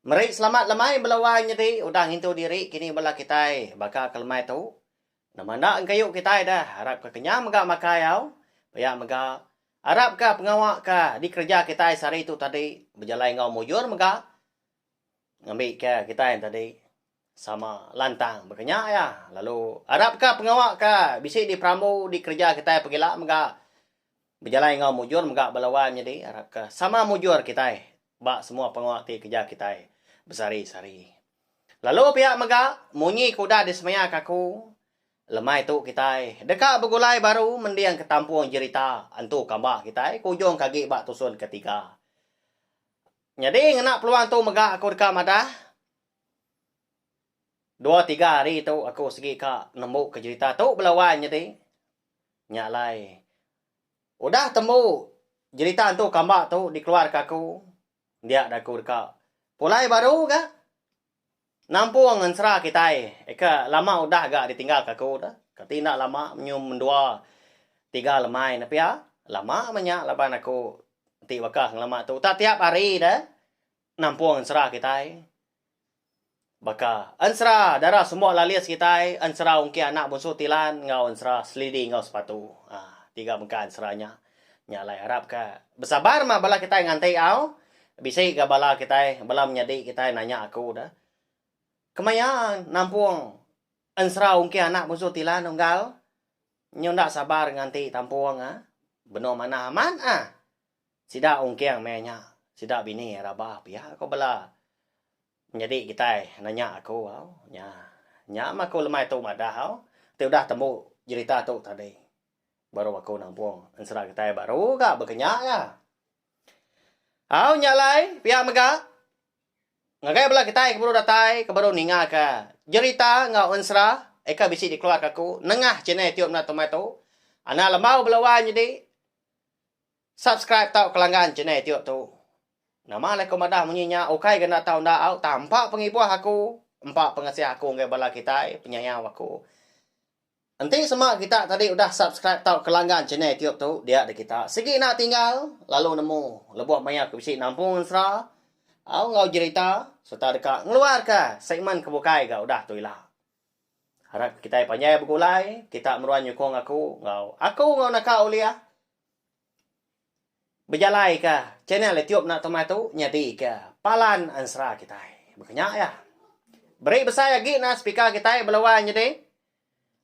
Meri selamat lemai bela wai nyedi udah ngintu diri kini bela kitai baka ke lemai tu. Nama enda engkayu kitai dah arap ke kenyang mega makai au. Pia mega, arap ka pengawa ka dikereja kitai sehari tu tadi bejalai enggau mujur mega ngambi ka kitai tadi. Sama lantang baka nya iya lalu arap ka pengawa ka bisi di perambu di kerja kitai pegila mega bejalai enggau mujur mega bala wai menyadi arap ka sama mujur kitai ba semua pengawa ti kerja kitai besehari sehari. Lalu pia mega munyi ke udah di semaya ka aku lemai tu kitai deka begulai baru mending ka tampung jerita entu kamba kitai ke ujung ka agi ba tusun ke tiga. Nyadi ngena peluang tu mega aku deka madah Dua tiga hari tu aku sigi ka nembu ke jerita tu bela wan nyadi. Nya alai udah tembu jerita entu kamba tu dikeluar ka aku dia da aku deka pulai baru ga nampung ensera kitai aka lama udah ga ditinggal ka aku tu kati enda lama menyum mendua tiga lemai ne pia lama menya laban aku ti baka ngelama tu uta tiap hari da Nampung ensera kitai. Baka ensera dara semua lalis kitai, ensera ungkih anak munsu Tilan enggau ensera selidi enggau sepatu. Haa, tiga bengkah ensera nya. Nya alai arap ka besabar mah bala kitai nganti au. Bisi ga bala kitai, bala menyadi kitai nanya aku da. Kemaya nampung ensera ungkih anak munsu Tilan unggal? Nyu enda sabar nganti tampung ah. Benung manah amat ah. Sida ungking meh nya sida bini rabah pia ko bala nyadi kitai nanya aku au nya nya meh aku lemai tu madah au ti udah tembu jerita tu tadi baru aku nampung ensera kitai baru ga bekenya ga au nya alai pia mega ngagai bala kitai ke baru datai ke baru ninga ka jerita enggau ensera eka bisi dikeluarka aku nengah channel youtube enda tu meh tu ana lembau bela wai nyadi. Subscribe tau kelanggan channel itiu tu. Nama alai ku madah munyi nya ukai ga enda tau enda au tampa pengibuh aku empa pengasih aku enggai bala kitai penyayau aku. Enti sema kita tadi udah subscribe tau kelanggan channel itiu tu dia di kita sigi enda tinggal lalu nemu lebuh maya ku bisi nampung ensera au enggau jerita serta deka ngeluarka segmen ke bukai ga udah tu ila. Harap kitai panjai begulai, kita meruan nyukung aku enggau aku enggau naka Oliah bejalaika channel YouTube enda tama tu nyadika palan ansra kitai. Baka nya iya. Beri besai agi nah speaker kitai bala wang nyadi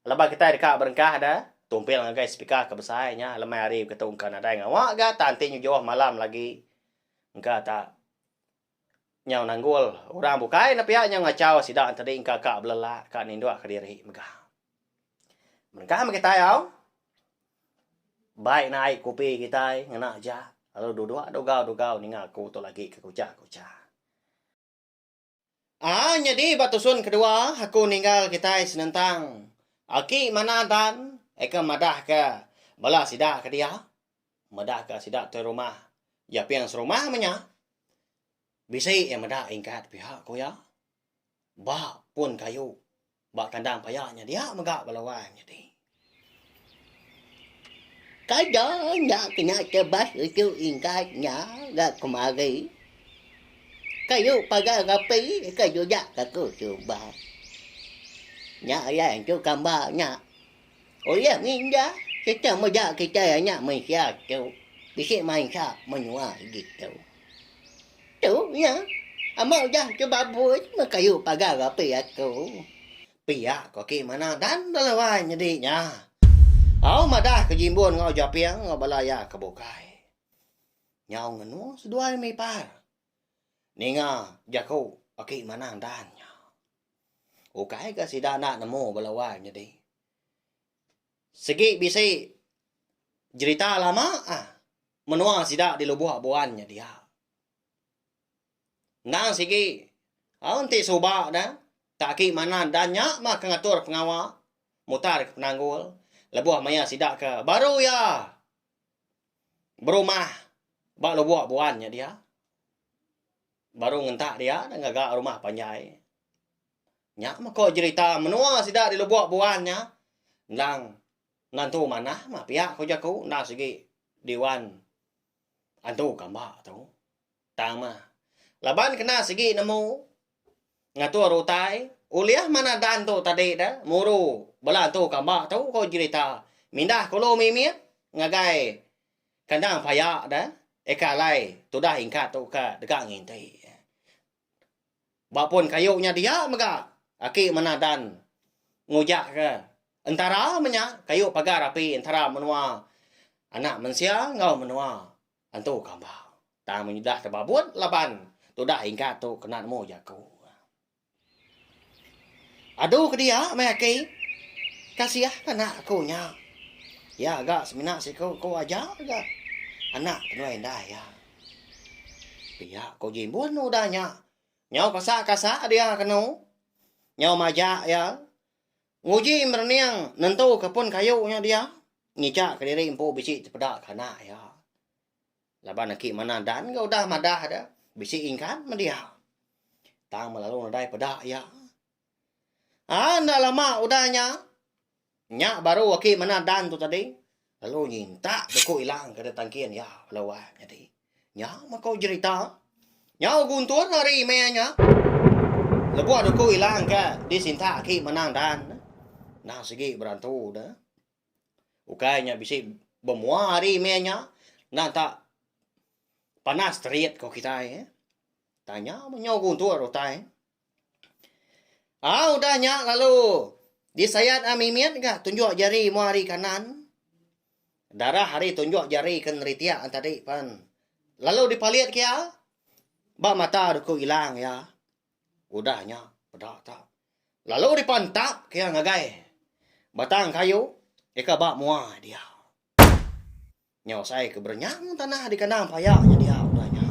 laban kitai deka berengkah da tumpil ngagai speaker ke besai nya lemai hari begitu engka nadai ngawa ga tan ti nyejoh malam lagi engka ta. nyau nanggul orang bukai ne pia nyau ngachau sida enteri engka ka belelak ka ninduk ka diri mega. Mengkang mega kitai au bai nai kopi kitai ngena aja lalu duduk dugau-dugau ninga aku tu agi ke kucha-kucha. Aa nyadi ba tusun kedua aku ninggal kitai senentang aki manah dan eka madahka bala sida ke dia. Medahka sida te rumah Japing serumah meh nya. Bisi iya meda ingkat piak ku iya. Ba pun kayu ba kandang paya nya dia mega bala wang nyadi. Kada nya kena tebas uchu ingkat nya ga kemari. Kayu pagar api ke jujak aku suba. Nya iya entu kamba nya. Oiah nginda, kita meda kitai anak mensia tu bisi mansa menua ditu. Tu nya, ama udah ke babui meh kayu pagar api aku. Pia ku aki manah dan bala wai nyadi nya. Au madah ke Jimbun enggau Japing enggau bala iya ke bukai. Nyau ngenu seduai mih ipar. Ninga jaku aki manah dan nya. Ukai ka sida enda nemu bala wai nyadi. Sigi bisi jerita lama ah menua sida di Lebuh Abuan nya dia. Endang sigi au enti suba ne tak aki manah enda nya mah ke ngatur pengawa mutar ke penanggul lebuh maya sida ke baru iya berumah ba Lebuh Abuan nya dia. Baru ngentak dia dah ngaga rumah panjai. Nya meko jerita menua sida di lubok buan nya endang nentu manah mah pia ko jaku enda sigi diwan antu kamba tu. Tang mah laban kena sigi nemu ngatur utai ulih manah dan tu tadi dah muru bala antu kamba tu ko jerita mindah kulu mimit ngagai Kandang paya da eka alai tudah ingkat tu ka dega nginti. Ba pun kayu nya dia mega aki manah dan ngujak ke entara menya kayu pagar api entara menua anak mensia enggau menua antu kambang. Tang menyudah tebabut laban tudah ingkat tu kena nemu jaku. Adu ke dia meh aki. Kasiah ke anak aku nya. Iya ga semina siku ku aja ga anak kenuai indai iya. Pia ku Jimbun udah nya. Nyau kasa kasa dia kenu. Nyau majak iya. Nguji merening nentuka pun kayu nya dia. Ngijak ke diri empu bisi tepeda ke anak iya. Laban aki manah Dan enggau udah madah deh, bisi ingkan meh dia. Tang melalu nadai peda iya. Ha enda lama udah nya, nya baru aki manah Dan tu tadi lalu nyintak duku ila ke di tangkin iya lalu wai menyadi. Nya meh ko jerita. Nyau guntur hari meh nya, lebuh duku ila ke disintak aki manah Dan, endang sigi berantu deh. Ukai nya bisi bemua hari meh nya enda ta panas terit ko kitai eh. Tanya meh nyau guntur utai. Au udah nya lalu disayat a mimit ga tunjuk jari mua ari kanan. Darah ari tunjuk jari ke neritik an tadi pan. Lalu dipalit ke iya ba mata doku ilang iya. Udah nya peda ta. Lalu dipa entap ke iya ngagai batang kayu deka ba mua dia. Nya usai ke berenyang tanah di kandang paya nya dia udah nya.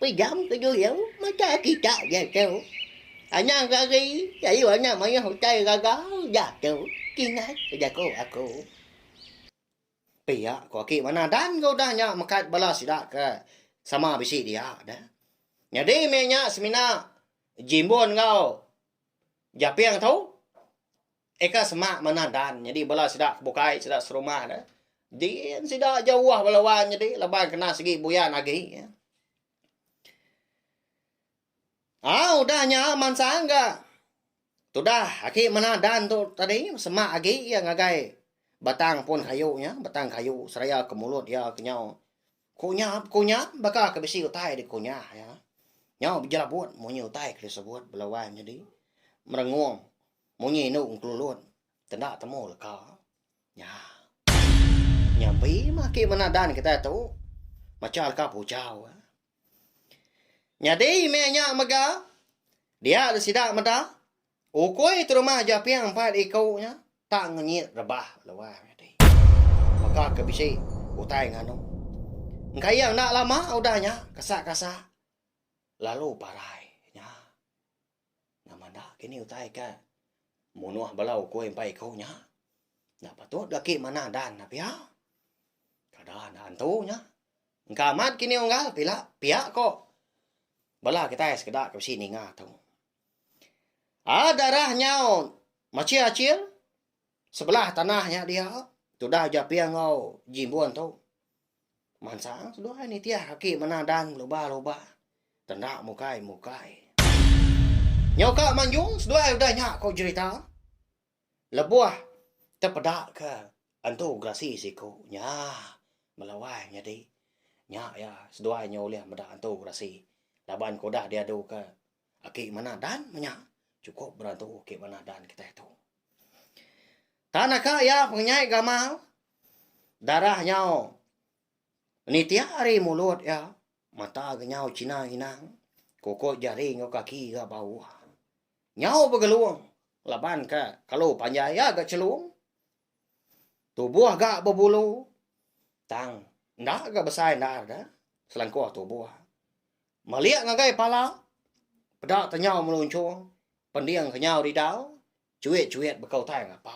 Pejam ke dulu mata kita jatuh. Anang rari lalu anang mayuh utai gaga jatuh. Kingat ke jaku aku. Pia ko aki manah dan ga udah nya mekat bala sida ke sama bisi dia da. Nyadi meh nya semina Jimbun enggau Japing tu eh ka sema manah dan nyadi bala sida ke bukai sida serumah da. Din sida jauh bala wang nyadi laban kena segi buyan agi. Au udah nya mansang ga. Tudah aki mena dan tu tadi semak agi iya ngagai batang pun kayu nya, batang kayu seraya ke mulut iya ke nyau ku nya ku nya baka ke bisi utai di ku nya iya. Nyau bejelabut munyi utai ke disebut bala wai nyadi merengong munyi indu ngelulut tenda temu leka nya. Nyampi mah aki mena dan kitai tu macha leka pujau. Nyadi meh nya mega dia le sida meda ukui ti rumah Japing empat iku nya tak ngenyit rebah luai nyadi mega ke bisi utai nganu. Engka iya enda lama udah nya kesak-kasak lalu parai nya. Nya mada kini utai ke munoh bala ukoi empai iko nya. Nya patut ga ki manah dan nya pia. Kada enda antu nya. Engka amat kini unggal pila pia ko bala kitai sekeda ke bisi ninga tu. Aa darah nyau machil achil sebelah tanah nya dia tudah japing enggau jimbun tu. Mansang seduai nitih aki mena dan beluba luba tenda mukai mukai. Nyau ka manjung seduai udah nya ko jerita lebuh tepeda ke entu gerasi siko nya melawai nyadi nya ya seduai nya ulih meda entu gerasi laban ko udah diadu ke Agi manah dan menya chukup berantu ke manah dan kitai tu. Tan naka iya pengenyai gamal darah nyau nitiak ari mulut iya mata genyau china inang kukut jari enggau kaki ga bauh. Nyau begelung laban ka kelu panjai iya ga chelung tubuh ga bebulu tang enda ga besai endar da selangkuh tubuh. Melik ngagai pala, peda te nyau melunchung, pending ke nyau didau, chuit-chuit beka utai ngapa.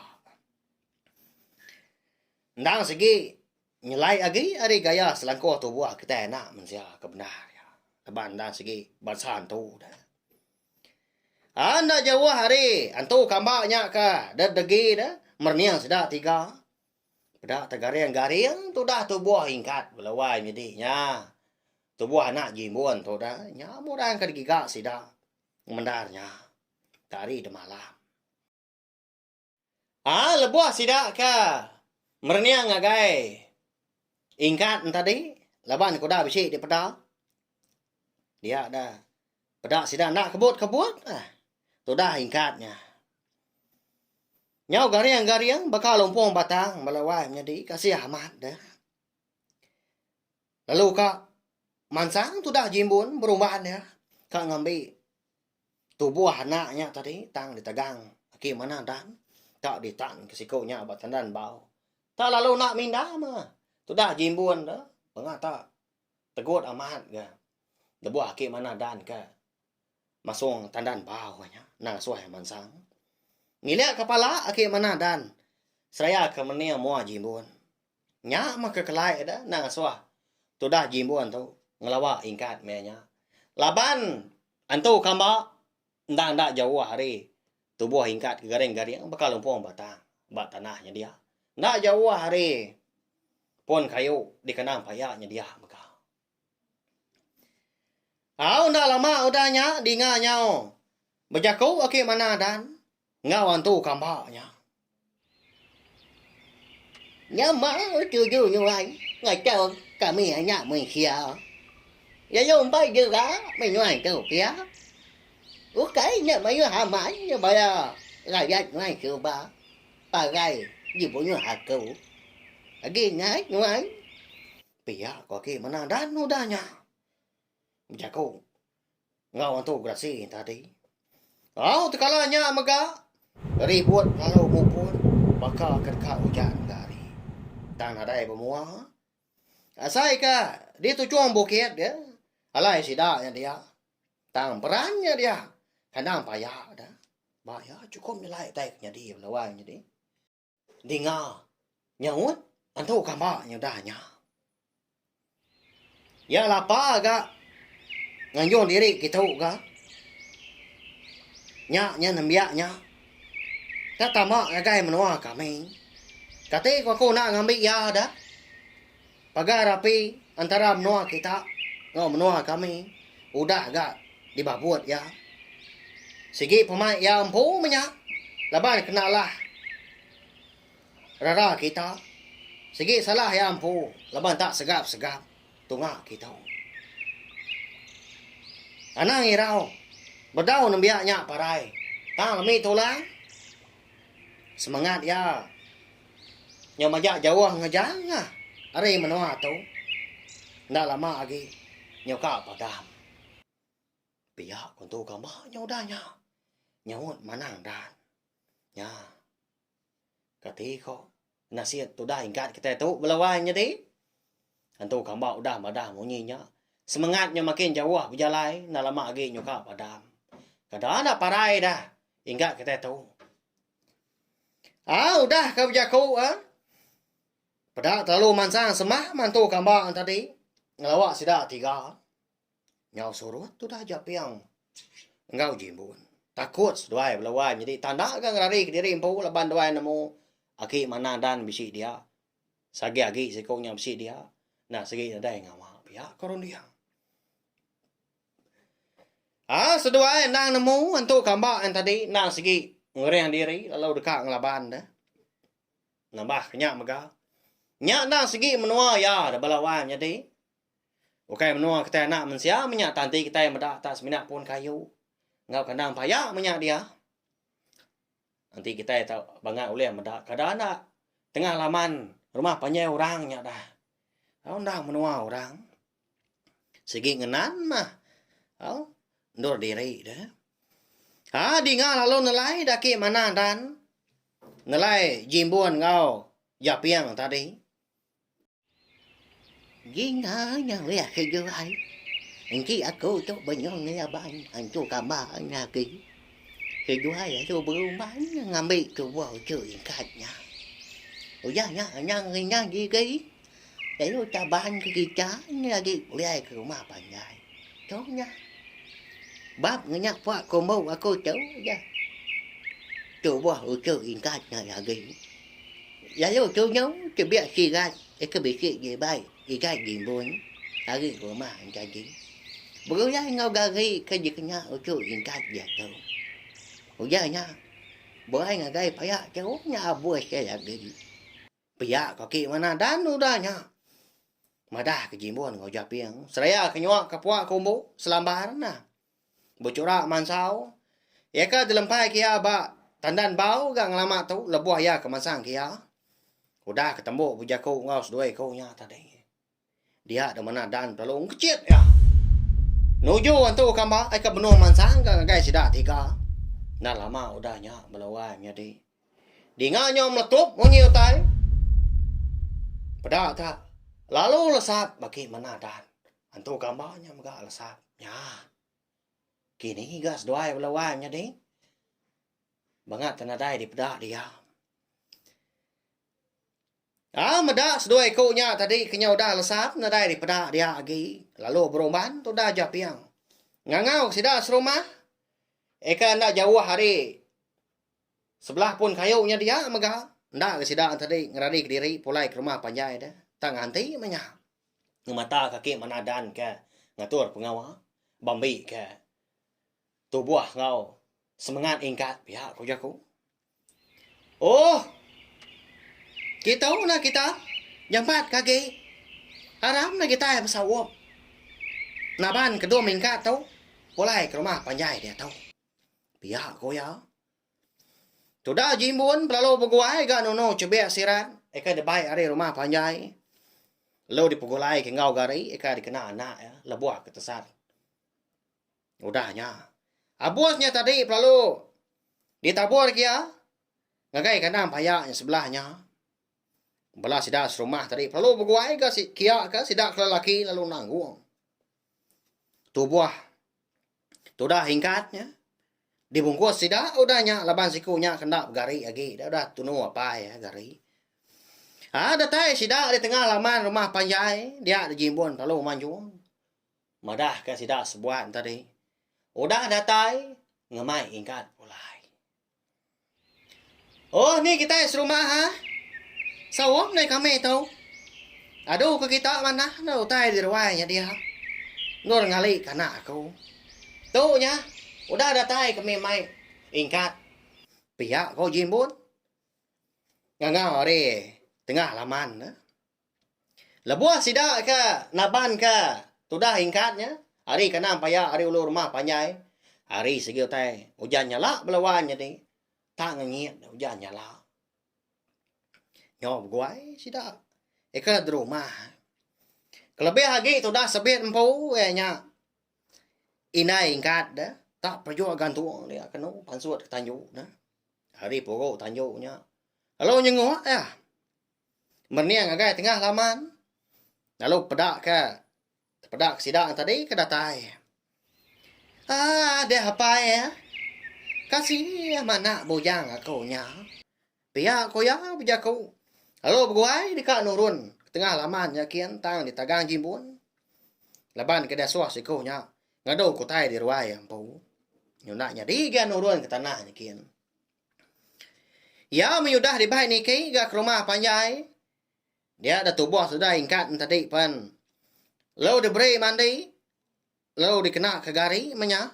Endang sigi, nyelai agi ari gaya selangkuh tubuh kitai anak mensia ke bendar iya. Laban endang sigi bansa antu deh. An enda jauh ari antu kamba nya ke deh degi deh merening sida tiga. Peda te garing-garing tudah tubuh ingkat bela wai nyadi nya. Tubuh anak Jimbun tu da nya murang ka digiga sida mendar nya ka hari da malam. Aa lebuh sida ka merening ngagai Ingkat enti tadi laban kuda bisi dipeda dia da peda sida enda kebut-kebut ah tudah Ingkat nya. Nyau garing-garing baka lumpung batang bala wai menyadi kasih amat deh. Lalu ka mansang tudah Jimbun berumban iya ka ngambi tubuh anak nya tadi tang ditegang aki manah Dan ka ditan ke siku nya ba tandan bau. Ta lalu enda minda mah tudah Jimbun tu pengah ta tegut amat ga lebuh aki manah Dan ka masung tandan bau nya endang asuh iya mansang. Ngilik ka pala aki manah Dan seraya ka mening mua Jimbun. Nya meh ke kelai deh nengasuh tudah Jimbun tu ngelawa ingkat meh nya. Laban entu kamba enda enda jauh ari tubuh ingkat ke garing-garing baka lumpung batang ba tanah nyedia. Enda jauh ari pun kayu dikena paya nyedia mega. Au enda lama udah nya dinga nyau bejaku agi manah dan enggau antu kamba nya. Nyama tuju nyuai ngajar kami anak mensia. Lalu empai jera menyuai tu pia. Ukai nya mayuh amat bala rakyat nyuai suba parai dibunyuh aku. Agi ngai nyuai. Pia ku aki menang dan udah nya bejaku enggau Antu Gerasi tadi. Au tekala nya mega ribut lalu muput baka ke deka ujan ga hari. Tang nadai bemua. Asai ke di tuchung bukit dia alai sida nya dia. Tang peran nya dia kandang paya da ba iya chukup nyelai utai ke nyadi lawan nya di. Ninga nyaut antu kamba nyudah nya. Iya lapa ga nganjung diri kitu ga. Nya nya nembiak nya ka tama ngagai menua kami. Kati ku aku enda ngambi iya dah. Pagar rapi antara menua kita enggau menua kami udah ga dibabut iya. Sigi pemai iya empu menya laban kena alah rara kita. Sigi salah iya empu laban enda segap-segap tunga kita. Anang irau bedau nembiak nya parai tang lemi tulang semangat iya. Nyau majak jauh ngejang nya ari menoa tu enda lama agi nyau ka padam. Pia ku entu gamba nyau udah nya nyaut manang dan nya kati ko nasit tu udah ingkat kite tu bela wai nyadi entu gamba udah madah munyi nya semengat nyau makin jauh bejalai enda lama agi nyau ka padam. Kada enda parai dah ingkat kite tu. Haa udah ka bejaku ha. Peda terlalu mansang semah mantu kambang tadi ngelawa sida tiga. Nyau surut udah Japing enggau Jimbun. Takut seduai bala wai nyadi tanda ga ngelari kediri empu laban duai nemu aki manah dan bisi dia. Sagi agi siku nya bisi dia. Enda sigi nadai ngama pia ke runding. Haa seduai endang nemu entu kamba ain tadi endang sigi ngereng diri lalu deka ngelaban da nambah ke nya mega. Nya endang sigi menua iya da bala wan nyadi ukai menua kitai anak mensia meh nya tanti kitai meda tak semina pun kayu enggau kandang paya meh nya dia. Enti kitai tau bangga ulih meda kada enda tengah laman rumah panjai orang nya dah. Tau endang menua orang. Sigi ngenan mah. Au, endur diri da. Ha dinga lalu nelai daki manah dan nelai jimbun enggau japing tadi. Dinga nya ulih agi ke ai. Engki aku tu benyong ngeyaban antu kamba nya agi. Ke juai alu berumban ngambi tubuh tu ingkat nya. Udah nya anang ringan igi. Lalu caban ke kita nya agi pulai ke rumah panjai. Tu nya. Bab ngenya puak kombo aku tu ja. Tubuh uchu ingkat nya agi. Lalu tu nya tebiak sirat ke bisi di ibai igai gimbun ari rumah nyadi. Begulai enggau gari ke dikena uchu ingkat diatu. Ujar nya, Buai ngagai paya tu nya abus agi. Pia ko aki manah dan udah nya. Madah ke Jimbun enggau Japing seraya ke nyuak ka puak ke umbu Selambar nah. Bechurak mansau, iya ka dilempai ke iya ba tandan bau ga ngelama tu lebuh iya ke mansang ke iya. Udah ke tembu bejaku enggau seduai ku nya tadi. Dia deh manah Dan belalu ngejit iya. Nuju entu ka mba ai ka benung mansang ka ngagai sida tiga. Enda lama udah nya bala wai menyadi. Dinga nyau melekup munyi utai. Peda ka lalu lesap bagi manah Dan. Entu ka mba nya mega lesap. Nya. Kini ga seduai bala wai menyadi. Bangat nadai dipeda diam. Au meda seduai iku nya tadi ke nya udah lesan nadai dipeda dia agi lalu berumban tudah Japing ngangau sida serumah eka enda jauh ari sebelah pun kayu nya dia mega enda ga sida tadi ngerari kediri pulai ke rumah panjai deh tang nganti meh nya ngemata ka ake manah dan ke ngatur pengawa ba mbi ke tubuh enggau semengat ingkat pia ku jaku. Ohh. Kitu nah kita nyemat ke agi. Aram nya kitai besaup. Naban ke dua mingkat tu pulai ke rumah panjai diatu. Pia ku iya. Tudah Jimbun belalu beguai ga Nunu Chubik Sirat aka dibai ari rumah panjai lalu dipegulai ke enggau gari aka dikena anak iya lebuh ke tesat. Udah nya. Abus nya tadi pelalu ditabur gia ngagai kandang paya nya sebelah nya. Bala sida serumah tadi pelalu beguai ga si kia ka sida ke lelaki lalu nanggung. Tubuh tudah hingkat nya dibungkus sida udah nya laban siku nya ke enda begari agi dah udah tunu apai eh gari. Ha datai sida di tengah laman rumah panjai dia dijimbun pelalu manjung. Madahka sida sebuan tadi udah datai ngemai ingkat pulai. Oh ni kitai serumah ha. Saum deh kami tu. Adu ke kita manah ne utai di ruai nya dia. Endur ngali ke anak aku. Tu nya udah datai kami mai ingkat. Pia ko Jimbun. Nganga ari tengah laman ne. Lebuh sida ke naban ke tudah ingkat nya, hari ke anam paya ari ulu rumah panjai, hari sigi utai ujan nyala bala wan nyadi tak ngengit ujan nyala. Nyau beguai sida ika di rumah. Kelebih agi tudah sebit empu iya nya indai ingkat de tak pejok gantung dia kenu pansut ke tanju ne. Hari puru tanju nya lalu nyenguk iya. Mening ngagai tengah laman lalu peda ka peda ka sida tadi ke datai. Aa deh apai eh. Kasih manak bujang aku nya. Pia ku iya bejaku lalu beguai deka nurun ke tengah laman nya kin tang ditagang jimbun laban ke disuh siku nya ngadu ke utai di ruai empu. Nyunak nyadi ga nurun ke tanah nya kin. Iya meh udah dibai niki ga ke rumah panjai. Dia dah tubuh sudah ingkat ne tadi pen. Lalu diberi mandi, lalu dikena ke gari meh nya,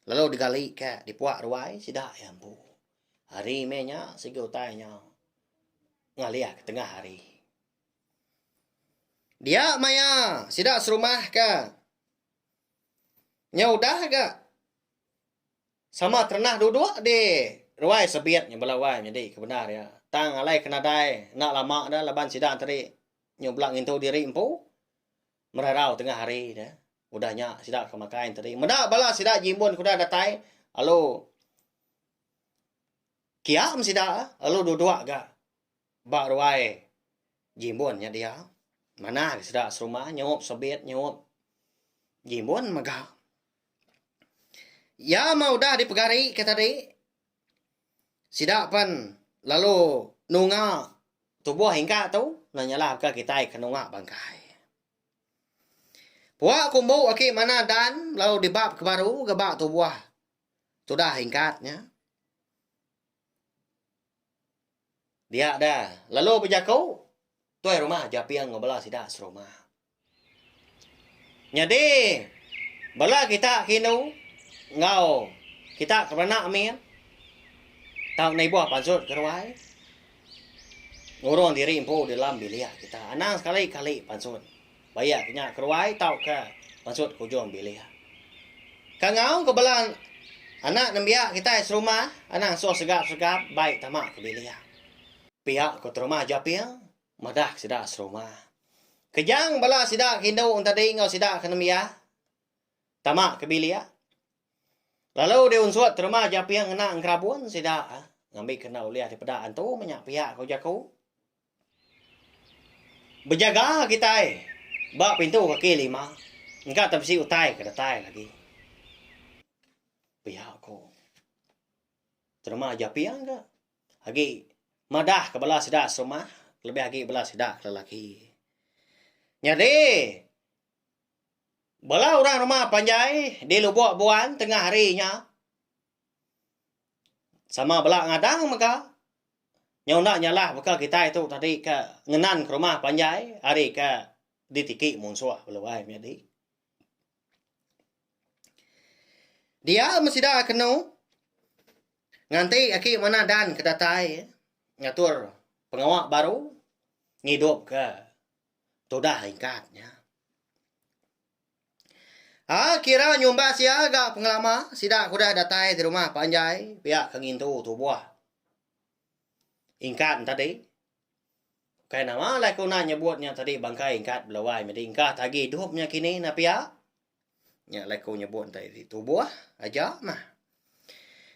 lalu digali ke dipuak ruai sida iya empu. Hari meh nya sigi utai nya ngalih ke tengah hari. Dia maya sida serumah ke nya udah ga. Sama terenah duduk di ruai sebit nya bela wai nyadi ke bendar iya. Tang alai ke nadai enda lama dah laban sida tadi nyubla ngintu diri empu merarau tengah hari dah. Udah nya sida ke makai nya tadi. Meda bala sida jimbun ke udah datai alu kiam sida alu duduk ga ba ruai jimbun nya dia. Manah ga sida serumah nyaup sebit nyaup jimbun mega. Iya mah udah dipegari ke tadi. Sida pen lalu nunga tubuh ingka tu nah nyalah baka kitai ke nunga bangkai. Pua kumbu aki mana Dan lalu dibap ke baru ke ba tubuh tudah ingkat nya. Dia da lalu bejaku tuai rumah japing enggau bala sida serumah. Nyadi, bala kita ke indu enggau kita ke beranak min, tau nibuh pansut ke ruai, ngurung diri empu dalam bilik kita. Anang sekali-kali pansut bayak ke nya ke ruai tauka pansut ke ujung bilik. Ka ngaung ke bala anak nembiak kitai serumah, anang suh segap-segap bai tama ke bilik. Piak ke terumah japing. Madah sida serumba. Kejang bala sida ke indu entadi enggau sida ke nembiak tama ke bilik. Lalu deh unsut terma Japing ngena engerabun sida ngambika enda ulih dipeda antu menya piak ko jaku. Bejaga kitai ba pintu kaki lima engka te bisi utai ke datai lagi. Pia ko terma Japing ka. agi madahka bala sida serumah kelebih agi bala sida ke lelaki. Nyadi bala orang rumah panjai di Lubok Buan tengah hari nya sama bala ngadang mega nyau enda nyalah baka kitai tu tadi ke ngenanka rumah panjai ari ke ditiki munsuh lalu ai menyadi. Diau meh sida kenu nganti aki manah dan ke datai ngatur pengawa baru ngidupka tudah ingkat nya. Aa kira nyumbas iya ga pengelama sida ke udah datai ti rumah panjai pia ke ngintu tubuh ingkat enti tadi. Ukai nama alai ku nah nyebut nya tadi bangkai engkat belawai medi engkah tagi idup nya kini nah pia. Nya alai ku nyebut enti di tubuh aja mah.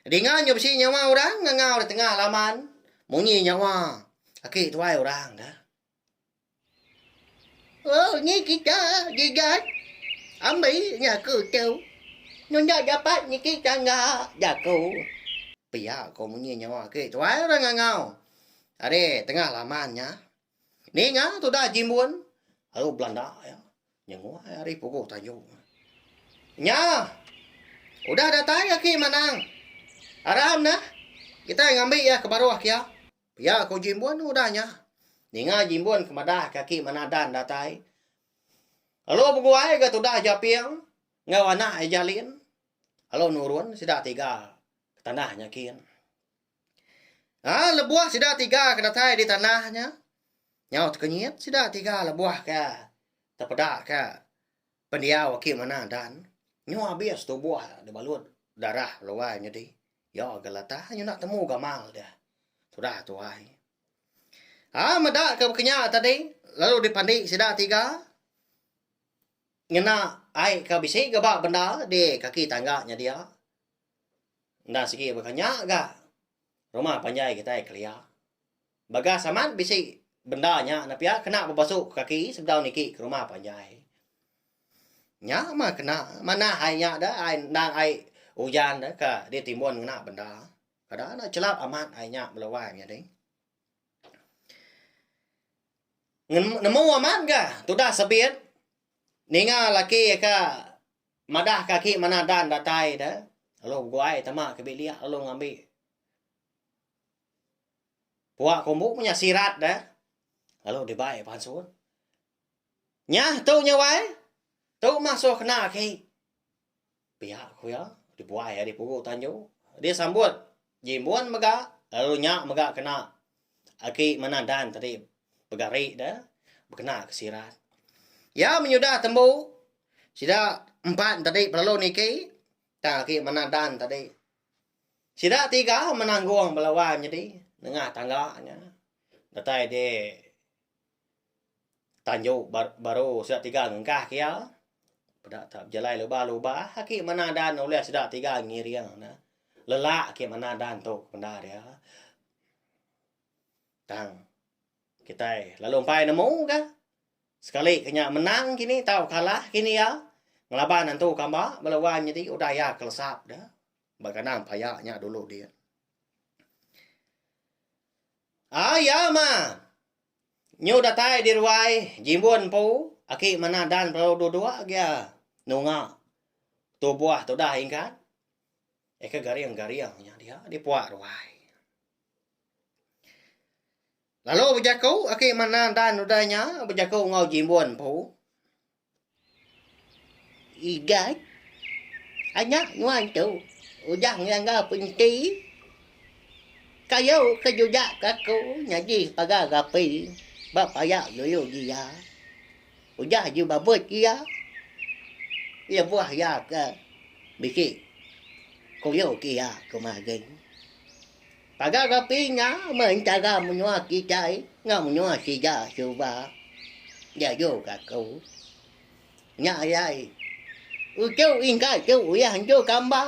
Dinga nya bisi nyawa orang ngangau di tengah laman munyi nyawa aki tuai orang dah. Oh ni kita gigat ambi nya aku tu. Nu enda dapat niki tangga jaku. Pia ko munyi nyawa aki tuai orang ngangau. Ari tengah laman nya, ninga tudah Jimbun lalu belanda iya nyenguai ari puguh tayu. Nya, udah datai aki Manang. Aram nah, kitai ngambi iya ke baruh kiya. Pia ku Jimbun udah nya. Ninga Jimbun ke madah ke aki Manadan datai. Lalu beguai ga tudah Japing enggau anak iya Jalin lalu nurun sida tiga ke tanah nya kin. Aa lebuh sida tiga ke datai di tanah nya nyau tekenyit sida tiga lebuh ke tepeda ke pendiau aki manah dan nyu abis tubuh da balut darah luai nyadi iyo geleta nyu enda temu gamal deh tudah tuai. Aa meda ke baka nya tadi lalu dipandi sida tiga ngena ai ke bisi ga ba bendar di kaki tangga nya dia. Enda sigi baka nya ga rumah panjai kitai kelia. Bagas amat bisi benda nya ne pia kena bebesu kaki sebedau niki ke rumah panjai. Nya mah kena manah ai nya da ai endang ai ujan da ka ditimbun ngena benda. Kada ne chelap amat ai nya bala wai menyadi. Nemu amat ga tudah sebit ninga laki ka. Madah ka aki manah Dan datai da lalu beguai tama ke bilik lalu ngambi pua kombu ku nya sirat da lalu dibai pansun. Nya tu nya wai. Tu mah suah kena aki. Pia ku iya dibuai ari pugu tanju. Dia sambut. Nyimun mega lalu nya mega kena agi manah dan tadi pegari de bekena ke sirat. Iya menyudah tembu sida empan tadi belalu niki tang agi manah dan tadi. Sida tiga menanggong bala wan nyadi nengah tangga nya datai di. tanjau baru sida tiga ngengkah ke iya peda ta bejalai luba luba aki manah dan ulih sida tiga ngiring ne lelak aki manah dan tu penda dia tang kitai lalu empai nemu ka sekali ke nya menang kini tau kalah kini iya ngelaban antu kamba bala wan nyadi udah iya kelesap da ba kandang paya nya dulu dia. Ai iya mah. Nyu datai di ruai Jimbun empu, aki manah dan perau dua-dua gia nunga tubuh tudah ingkat eka garing-garing nya dia dipuak ruai. Lalu bejaku aki manah dan udah nya bejaku enggau Jimbun empu. Igai anak nuan tu udah ngelanggar penti kayu ke jujak ke aku nyadi pagar gapi ba paya dulu ji iya. Udah ji babut ji iya lebuh iya ke bisi kuyuh ke iya kuma gin. Tagal dapi nya meh entara menua kitai enggau menua sida suba diajuka aku. Nya alai uchu ingkai tu uyah entu kamba.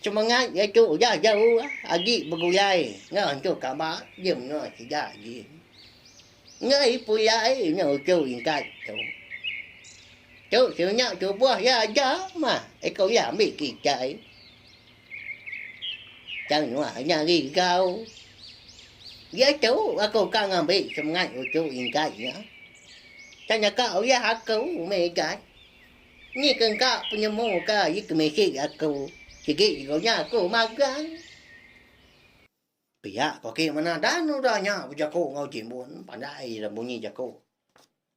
Semengat iya tu udah jauh agi begulai enggau entu kamba di menua sida agi. Enggai pulai nya uchu ingkai tu. Tu sida nya tubuh iya aja mah eko iya ambi kitai. Tang nuak nya rigau. Diatu aku ka ngambi semengat uchu ingkat nya. Tanya ka uyah aku Megan. Ni ke engka penemu ka ye ke mesej aku. Sigi jegu nya aku magang. Pia ko ki mena dan udah nya bejaku enggau Timbun. Pandai ira bunyi jaku.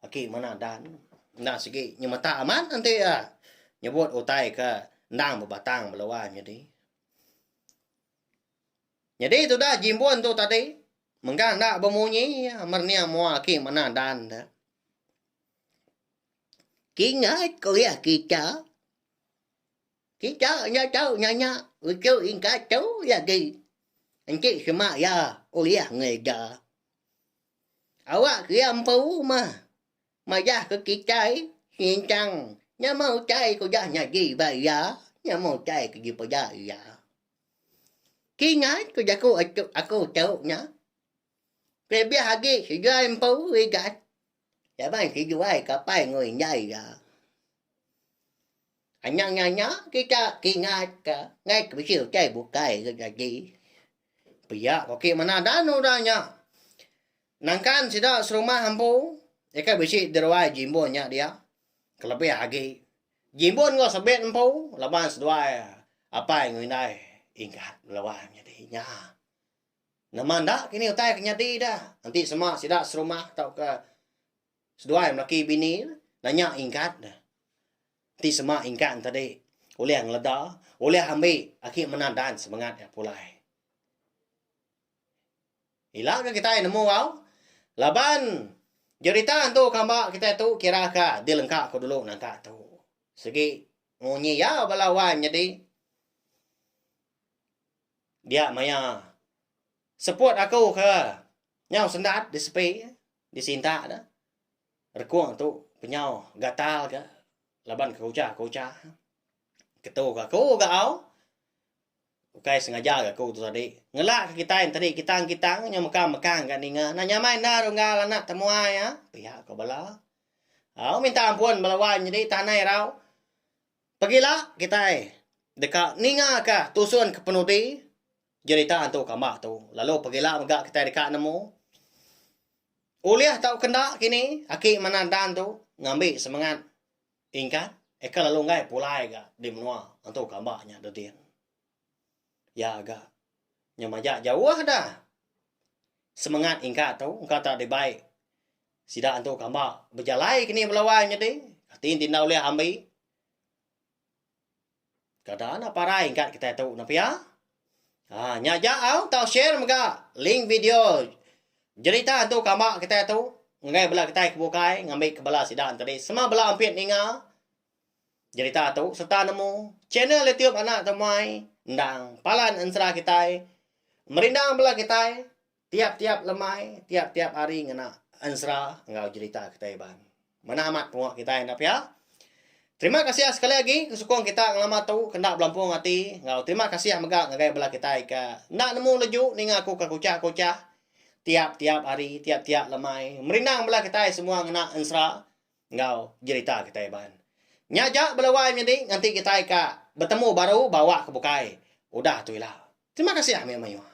Aki Manah Dan enda sigi nyemetak amat enti iya nyebut utai ke endang bebatang belua nyadi. Nyadi tudah Jimbun tu tadi mega enda bemunyi iya mernia mua Aki Manah Dan tu. Kingat ku iya kita. Kita enda tau nanya uchu ingkat tu lagi. Enti sema iya ulih ngereja. Awak keria empu mah majah ke kitai singchang nyama utai ke udah nyadi ba iya nyama utai ke dipeda iya. Kingat ke jaku aku tu nya kelebih agi seduai empu igat laban seduai kapai enggau indai iya. Anang nya nya kita kingat ka ngai ke bisi utai bukai ke nyadi. Pia ko ki manah dan udah nya. Nangkan sida serumah empu eka bisi deruai jimbun nya dia kelebih agi jimbun enggau sebit empu laban seduai apai enggau indai ingat melewa nyadi nya. Nama enda kini utai ke nyadi da enti sema sida serumah tauka. Seduai melaki bini nanya ingkat ne. Enti sema ingkat ne tadi ulih ngeleda, ulih ambi aki mena dance semengat iya pulai. Ila ke kitai nemu au laban jerita entu kamba kitai tu kira ka dilengka ku dulu nangka tu. Segi munyi iya bala wai menyedi dia maya seput aku ke nyau sendat di sepi. Di sinta da, rekung tu penyau gatal ga laban kerucha kerucha. Ketu ga aku ga au, ukai sengaja ga aku tu tadi. Ngelak ka kitai enti di kitang kitang nyau meka mekang ga ninga enda nyamai enda runggal anak temuai a, pia ko bala. Au minta ampun bala wan nyadi tanai irau. Pegila kitai deka ninga ka tusun ke penudi Jerita hantu kamba tu lalu pegila mega kitai deka nemu. Ulih tau ke enda kini aki manah Dan tu ngambi semengat Ingat eka lalu enggai pulai ga di menua hantu kamba nya tu din. Ya ga nya maja jauh dah semengat Ingat tu engka tau dibai sida hantu kamba bejalai kini belawai nyadi. Ti inti enda ulih ambi. Kada anak parai engka kitai tu nah pia. Ha nya aja au tau share mega link video jerita hantu kamba kitai tu enggai bala kitai ke bukai ngambika bala sida tadi sama bala ampit ninga jerita tu sereta nemu channel YouTube anak tumai endang palan ensera kitai merindang bala kitai. Tiap-tiap lemai, tiap-tiap hari ngena ensera enggau jerita kitai Iban. Manah amat pengawa kitai enda pia. Terima kasih sekali agi ke sukung kita ngelama tu ke enda belampung ati enggau terima kasih mega ngagai bala kitai ke enda nemu leju ninga aku ke kuchah-kuchah tiap-tiap hari, tiap-tiap lemai. Merindang bala kitai semua ngena ensera enggau jerita kitai ban. Nya aja bela wai menyadi nganti kitai ka betemu baru ba awak ke bukai udah tu ila. Terima kasih ah mayuh mayuh.